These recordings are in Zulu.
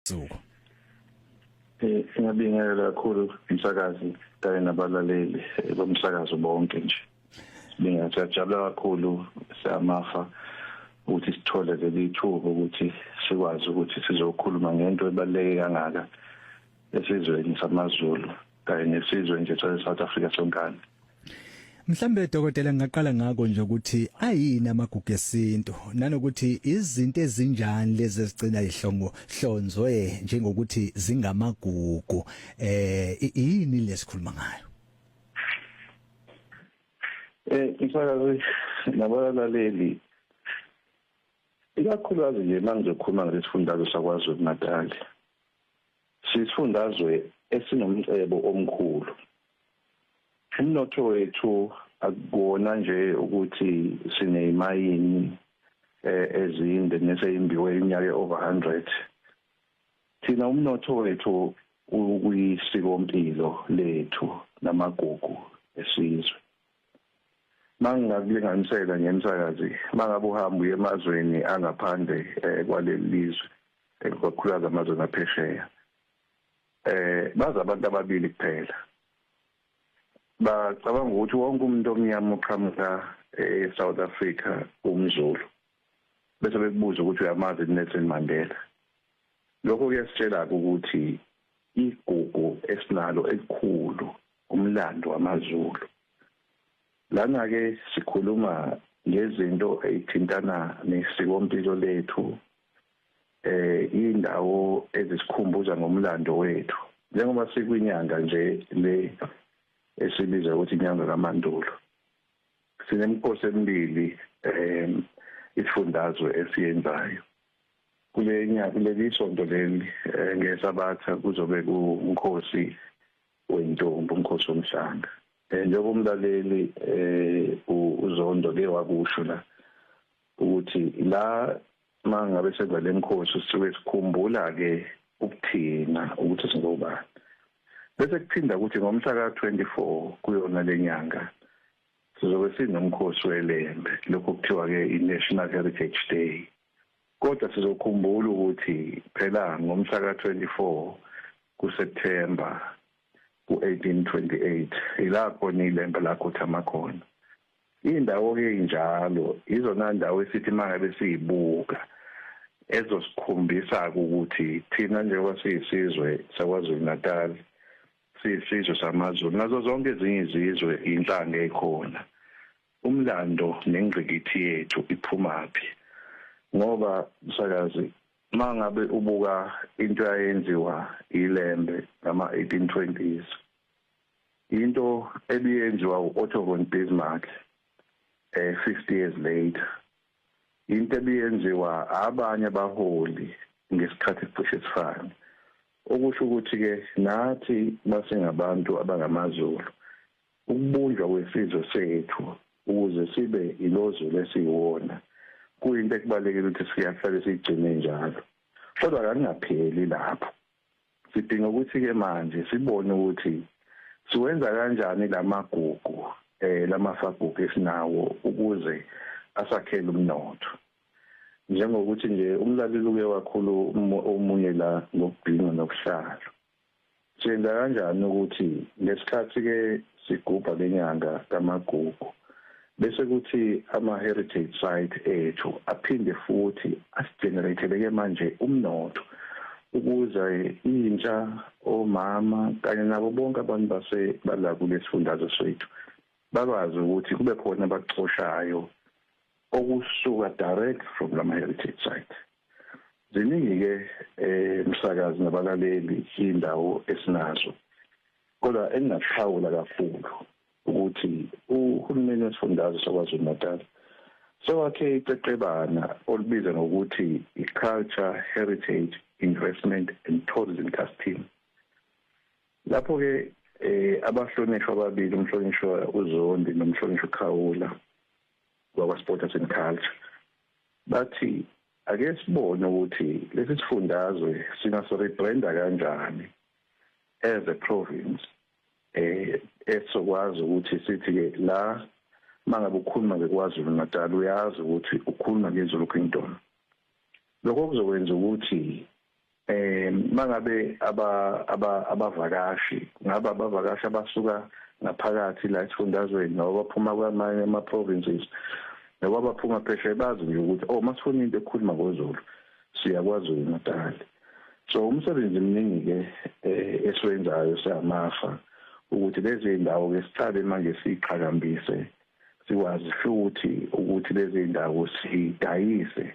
Zuko. Eh singabingelela kakhulu umsakazi kanye nabalaleli eh, bomsakazo bonke nje. Sibinga siyajabula kakhulu siyamafa ukuthi sithole leli thuba ukuthi sikwazi ukuthi sizokhuluma ngento ebaluleke kangaka esizweni samaZulu. kanye nesizwe nje sase-south africa sonkana Mhlambe dokotela ngaqala ngako nje ukuthi ayini amagugu esintu nanokuthi izinto ezinjani lezi ezigcina ihlongo hlonzwe njengokuthi zingamagugu eh yini lesikhuluma ngayo Eh isakazi nabalaleli ikakhulukazi nje mangizokhuluma ngesifundazwe sakwaZulu Natal Siyisifundazwe esinomcebo omkhulu. Umnotho wethu akukona nje ukuthi sinezimayini eh, ezinde neseyimbiwe iminyaka over 100 thina umnotho wethu ukuyisikompilo lethu namagugu esizwe mangingakulinganisela ngemsakazi mangabe uhamba uye emazweni angaphandle eh, kwaleli lizwe eh, kakhulukazi amazweni aphesheya eh baza abantu ababili kuphela bacabanga ukuthi wonke umuntu omnyama uqhamuka eSouth eh, Africa umzulu bese bekubuza ukuthi uyamazi Nelson Mandela lokho kuyasitshela ukuthi igugu esinalo elikhulu umlando wamaZulu lana ke sikhuluma ngezinto ezithintana nesikompilo lethu eh indawo ezisikhumbuza ngomlando wethu njengoba sikwinyanga nje le esibiza ukuthi inyanga kaMandulo sinemikhosi emibili eh isifundazwe esiyenzayo kulenya kuleli sonto leli eh, ngesabatha kuzobe kunkosi wentombi umkhosi womhlanga um eh, njengoba umlaleli um uzondo ke wakusho la ukuthi la uma ngabe senza le mkhosi sisuke sikhumbula-ke ukuthina ukuthi singobani bese kuphinda ukuthi ngomhla ka-twenty four kuyona le nyanga sizobe sinomkhosi welembe lokhu kuthiwa-ke i-national heritage day Kodwa sizokhumbula ukuthi phela ngomhla ka-24 kuSepthemba ku-1828 yilapho nilembe lakhothama khona. Iy'ndawo-ke ey'njalo yizona ndawo esithi uma ngabe siyibuka ezosikhombisa-ke ukuthi thina njengoba siyisizwe saKwaZulu-Natal siyisizwe samaZulu nazo zonke ezinye izizwe yinhlanga ekhona Umlando nengqikithi yethu iphumaphi? Ngoba msakazi mangabe ubuka into yayenziwa iLembe ngama 1820s into ebiyenziwa uOtto von Bismarck eh 50 years later into ebiyenziwa abanye abaholi ngesikhathi cishe sifane okusho ukuthi ke nathi basengabantu abangamazulu Ukubunjwa kwesizwe sethu ukuze sibe ilozulu esiyiwona kuyinto ekubalulekile ukuthi siyahlale siyigcine njalo. Kodwa kakungapheli lapho. Sidinga ukuthi-ke manje sibone ukuthi siwenza kanjani la magugu, eh, la mafagugu esinawo ukuze asakhele umnotho. Njengokuthi nje umlaleli uke wakhuluma omunye la ngokubhinca nobuhlalu. Siyenza kanjani ukuthi ngesikhathi ke sigubha lenyanga kamagugu bese kuthi ama heritage site ethu aphinde futhi asigeneratele ke manje umnotho ukuze intsha omama kanye nabo bonke abantu base bala kulesifundazwe sethu bakwazi ukuthi kube khona abacoshayo okusuka direct from lama heritage site ziningi ke eh msakazi nabalaleli indawo esinazo kodwa engingaphawula kakhulu ukuthi uhulumeni wesifundazwe sakwaZulu Natal sewakhe iqeqebana olubiza ngokuthi i-Culture Heritage Investment and Tourism Task Team lapho ke eh abahlonishwa ababili umhlonishwa uZondi nomhlonishwa uKhawula wakwa Sport and Culture Bathi ake sibone ukuthi lesi sifundazwe singasi rebranda kanjani as a province eh esokwazi ukuthi sithi ke la mangabe ukhuluma ngekwaZulu Natal uyazi ukuthi ukhuluma ngeZulu Kingdom lokho kuzokwenza ukuthi eh mangabe aba abavakashi ngaba abavakashi abasuka ngaphakathi la esifundazweni noma baphuma kwamanye ama provinces noma baphuma phesheya bazi nje ukuthi oh masifuna into ekhuluma ngoZulu siyakwazi uNatal so umsebenzi mningi ke eh, esiwenzayo siyamafa ukuthi lezi ndawo ke siqale manje siqhakambise sikwazi futhi ukuthi lezi ndawo sidayise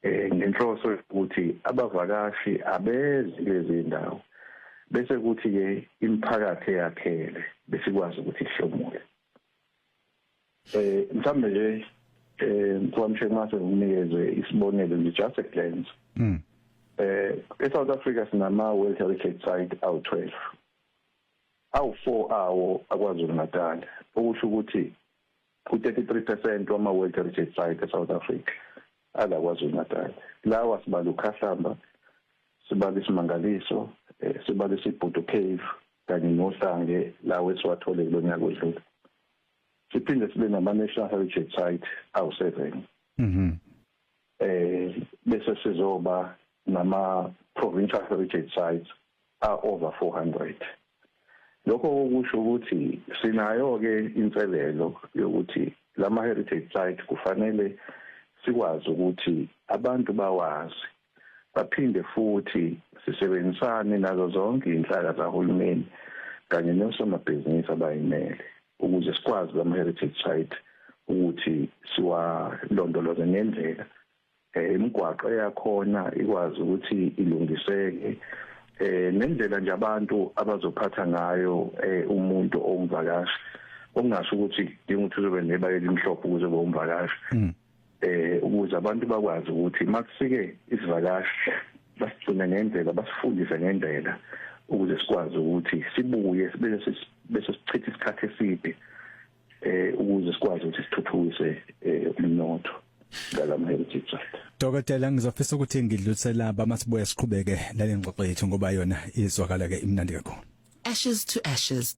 eh, ngenhloso yokuthi abavakashi abezi kulezi ndawo bese kuthi-ke imiphakathi eyakhele besikwazi ukuthi ihlomule um mhlawumbe nje um mfowamsheke mase ngikunikeze isibonelo nje just a glance um e-south africa sinama-world heritage site awu-twelve awu-four awo akwazulu natal okusho ukuthi U-33 percent wama-World Heritage Site eSouth Africa ala KwaZulu-Natal. Lawa sibala uKhahlamba, sibala iSimangaliso, eh, sibala iSibhudu Cave kanye noHlange lawo esiwathole kulo nyaka odlule. Siphinde sibe nama-National Heritage Site awu-seven. Mhm. eh bese sizoba nama provincial heritage sites a over 400 lokho okusho ukuthi sinayo ke inselelo yokuthi lama heritage site kufanele sikwazi ukuthi abantu bawazi baphinde futhi sisebenzisane nazo zonke inhlaka zahulumeni kanye nosomabhizinisi abayimele ukuze sikwazi lama heritage site ukuthi siwalondoloze ngendlela eh, imigwaqo eyakhona ikwazi ukuthi ilungiseke eh nendlela nje abantu abazophatha ngayo eh, umuntu ongivakashi okungasho ukuthi dinga ukuthi uzobe neba elimhlophe ukuze bomvakashi hmm. eh ukuze abantu bakwazi ukuthi makufike isivakashi basigcine ngendlela basifundise ngendlela ukuze sikwazi ukuthi sibuye bese bese sichithe isikhathi eside eh ukuze sikwazi ukuthi sithuthukise eh, umnotho ngalama heritage site Dokotela ngizofisa ukuthi ngidlulisela abamasibuye siqhubeke nale ngxoxo yethu ngoba yona izwakala ke imnandi kakhulu Ashes to ashes